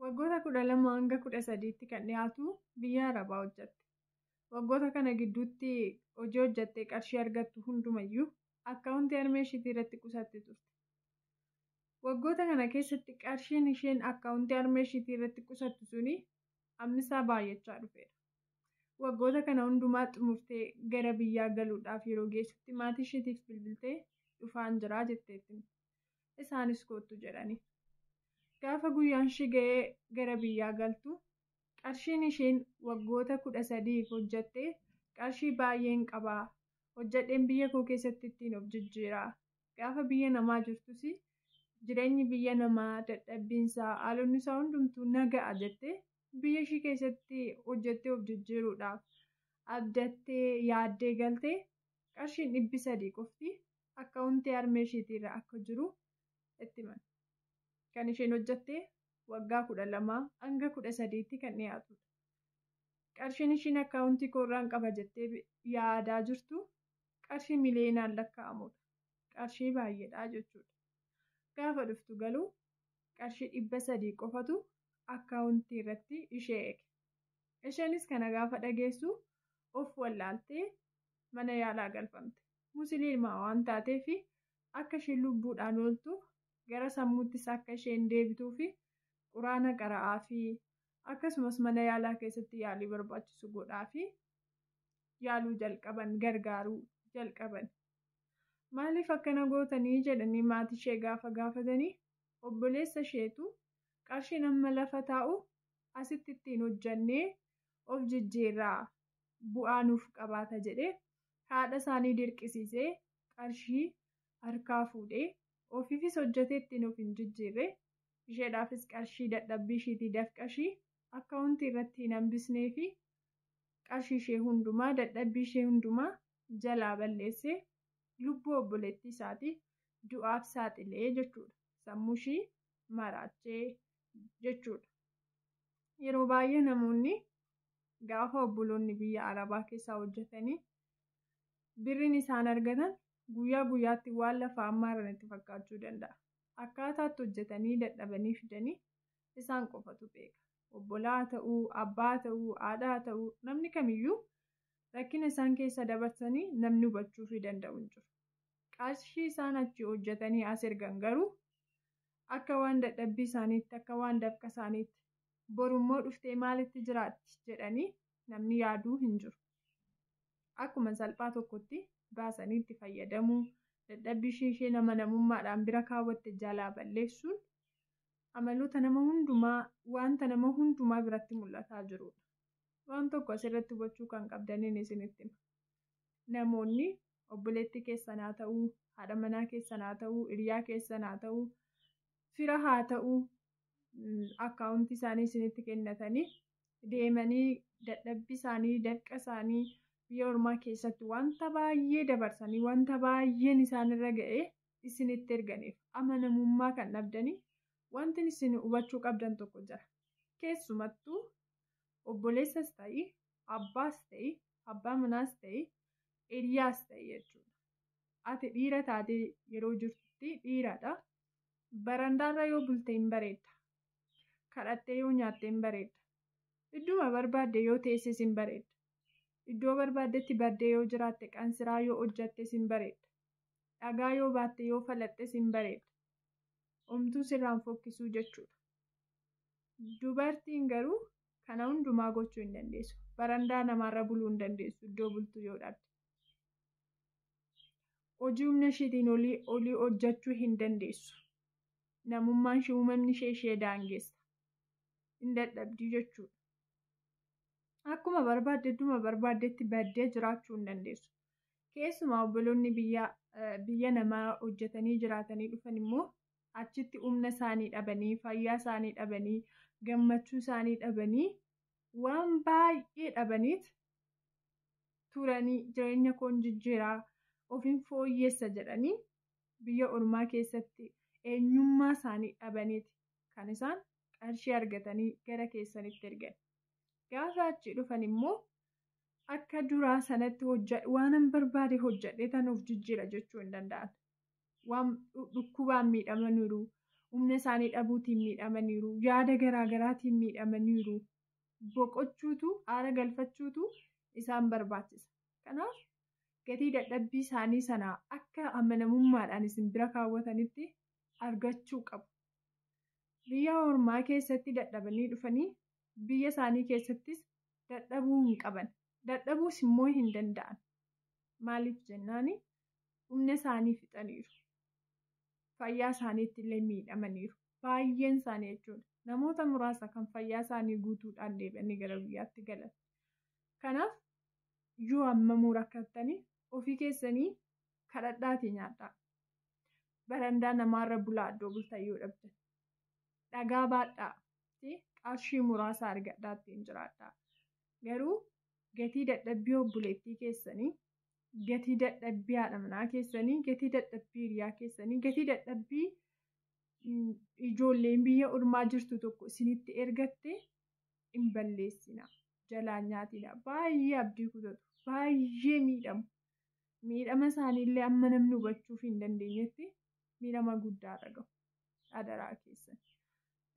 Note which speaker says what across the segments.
Speaker 1: Waggoota 12 hanga 13tti kan dhiyaatu biyya Arabaa hojjatte. Waggoota kana gidduutti hojii hojjattee qarshii argattu hundumayyuu akkaawuntii harmee ishiitii irratti qusatti turte. Waggoota kana keessatti qarshiin isheen akkaawuntii harmee ishiitii irratti qusattu suni hammisaa baay'achaa dhufeera. Waggoota kana hundumaa xumurtee gara biyyaa galuudhaaf yeroo geessutti maatii ishiitiif bilbiltee dhufaan jira jetteetti. Isaanis koottu jedhaniin. Gaafa guyyaan ishii ga'ee gara biyyaa galtu qarshiin ishiin waggoota kudha sadiif hojjatte qarshii baay'een qaba. Hojjadheen biyya koo keessatti ittiin of jijjiira. Gaafa biyya namaa jirtus jireenyi biyya namaa dadhabbiinsaa haalonnisaa hundumtuu na ga'a jettee biyya ishii keessatti hojjattee of jijjiiruudhaaf abdattee yaaddee galte qarshiin dhibbi sadii qofti akkaawuntii harmee isheetii irra akka jiru itti himan. Kan isheen hojjatte waggaa 12-18tti kan dhiyaatudha. Qarshiin ishiin akkaawuntii koo irraan qaba jettee yaadaa jirtu qarshii miliyoonaan lakkaa'amudha. Qarshii baay'eedha jechuudha. Gaafa dhuftu galuu qarshii 300 qofatu akkaawuntii irratti ishee eege. Isheenis kana gaafa dhageessu of wallaaltee mana yaalaa galfamte. Musiliima waan taateef akka isheen lubbuudhaan ooltu, gara sammuuttis akka isheen deebituuf Qur'aana qara'aafii, akkasumas mana yaalaa keessatti yaalii barbaachisu godhaafii. Yaaluu jalqaban, gargaaruu jalqaban. Maaliif akkana gootanii? jedhanii maatii ishee gaafa gaafatanii, obboleessa isheetu qarshiin amma lafa taa'u asitti ittiin hojjannee of jijjiirraa bu'aa nuuf qabaata jedhee haadha isaanii dirqisiisee qarshii harkaa fuudhe, ofiifis hojjatee itti nuuf hin jijjiirre, isheedhaafis qarshii dadhabbii ishiitii dafqa ishii akkaawuntii irratti hin hambisneefi qarshii ishee hundumaa, dadhabbii ishee hundumaa jalaa balleesse, lubbuu obboleettii isaatii du'aaf saaxile jechuudha. Sammuu ishii maraache jechuudha. Yeroo baay'ee namoonni Gaafa obboloonni biyya Arabaa keessaa hojjetanii birriin isaan argatan guyyaa guyyaatti waan lafaa ammaaran itti fakkaachuu danda'a. Akkaataa itti hojjetanii dadhabanii fidanii isaan qofatu beeka. Obbolaa haa ta'u, abbaa haa ta'u, haadha haa ta'u namni kamiyyuu rakkina isaan keessa dabarsanii namni hubachuufii danda'u hin jiru. Qarshii isaan achii hojjetanii as ergan garuu akka waan dadhabbii isaaniitti, akka waan dafqa isaaniitti boru immoo dhuftee maalitti jiraatti jedhanii namni yaaduu hin jiru. Akkuma salphaa tokkotti baasanii itti fayyadamuu, dadhabbii ishee isheen amanamummaadhaan bira kaawwatte jalaa balleessuun amaloota nama hundumaa, wanta nama hundumaa biratti mul'ataa jiruudha. Waan tokko asirratti hubachuu kan qabdaniin isinitti hima. Namoonni obboleettii keessan haa ta'uu, haadha manaa keessan haa ta'uu, hiriyaa keessan haa ta'uu, fira haa ta'uu, akkaawuntii isaanii isinitti kennatanii deemanii dadhabbii isaanii dafqa isaanii biyya ormaa keessatti wanta baay'ee dabarsanii wanta baay'een isaanirra ga'ee isinitti erganiif amanamummaa kan dhabdanii wanti isin hubachuu qabdan tokko jira. Keessumattuu obboleessas ta'ii abbaas ta'ii abbaa manaas ta'ii hiriyaas ta'ii jechuudha. Ati dhiira taatee yeroo jirtutti dhiiradha. Barandaarra yoo bulte hin bareedda. Kadhattee yoo nyaatte hin bareedda. Idduma barbaadde yoo teesses hin bareedda. Iddoo barbaaddetti baddee yoo jiraatte qansiraa yoo hojjattes hin bareedda. Dhagaa yoo baatte yoo falaxxes hin bareedda. Omtuu sirraan fokkisuu jechuudha. Dubartiin garuu kana hundumaa gochuu hin dandeessu. Barandaa namaarra buluu hin dandeessu iddoo bultu yoo dhabde. hojii humna ishiitiin olii olii hojjechuu hin dandeessu. Namummaan ishee uumamni ishee ishee daangessa. Hin dadhabdii jechuudha. Akkuma barbaadde idduma barbaaddetti baddee jiraachuu hin dandeessu. Keessumaa obboloonni biyya biyya namaa hojjetanii jiraatanii dhufan immoo achitti humna isaanii dhabanii, fayyaa isaanii dhabanii, gammachuu isaanii dhabanii waan baay'ee dhabaniit turanii jireenya koon jijjiira, ofin fooyyessa jedhanii biyya ormaa keessatti eenyummaa isaanii dhabaniiti kan isaan qarshii argatanii gara keessanitti ergan. Gaafa achii dhufan immoo akka duraa sanatti hojjadhe waanan barbaade hojjadhee tan of jijjiira jechuu hin danda'an. Waan dhukkubaan miidhamaniiru, humna isaanii dhabuutiin miidhamaniiru, yaada garaa garaatiin miidhamaniiru. boqochuutu, aara galfachuutu isaan barbaachisa. Kanaaf gatii dadhabbii isaanii sana akka amanamummaadhaan isin bira kaawwatanitti argachuu qabu. Biyya ormaa keessatti dadhabanii dhufanii biyya isaanii keessattis dadhabuu hin qaban. Dadhabuus immoo hin danda'an. Maaliif jennaan humna isaanii fixaniiru. Fayyaa isaaniitti illee miidhamaniiru. Baay'een isaanii jechuudha. Namoota muraasa kan fayyaa isaanii guutuudhaan deebi'anii gara biyyaatti galan. Kanaaf yoo hammamuu rakkattanii ofii keessanii kadhadhaatii nyaadhaa. Barandaa namaarra bulaa iddoo bultan yoo dhabdan. Dhagaa baadhaa ti qarshii muraasa argadhaa ittiin jiraadhaa. Garuu gatii dadhabbii obboleettii keessanii, gatii dadhabbii haadha manaa keessanii, gatii dadhabbii hiriyaa keessanii, gatii dadhabbii ijoolleen biyya ormaa jirtu tokko isinitti ergatte hin balleessina jalaan nyaatina baay'ee abdii kutatu baay'ee miidhamu miidhama isaaniillee amma namni hubachuuf hin dandeenyetti miidhama guddaa irra gahu adaraa keessan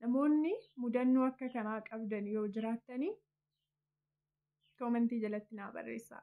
Speaker 1: namoonni mudannoo akka kanaa qabdan yoo jiraattanii koomentii jalatti naa barreessaa.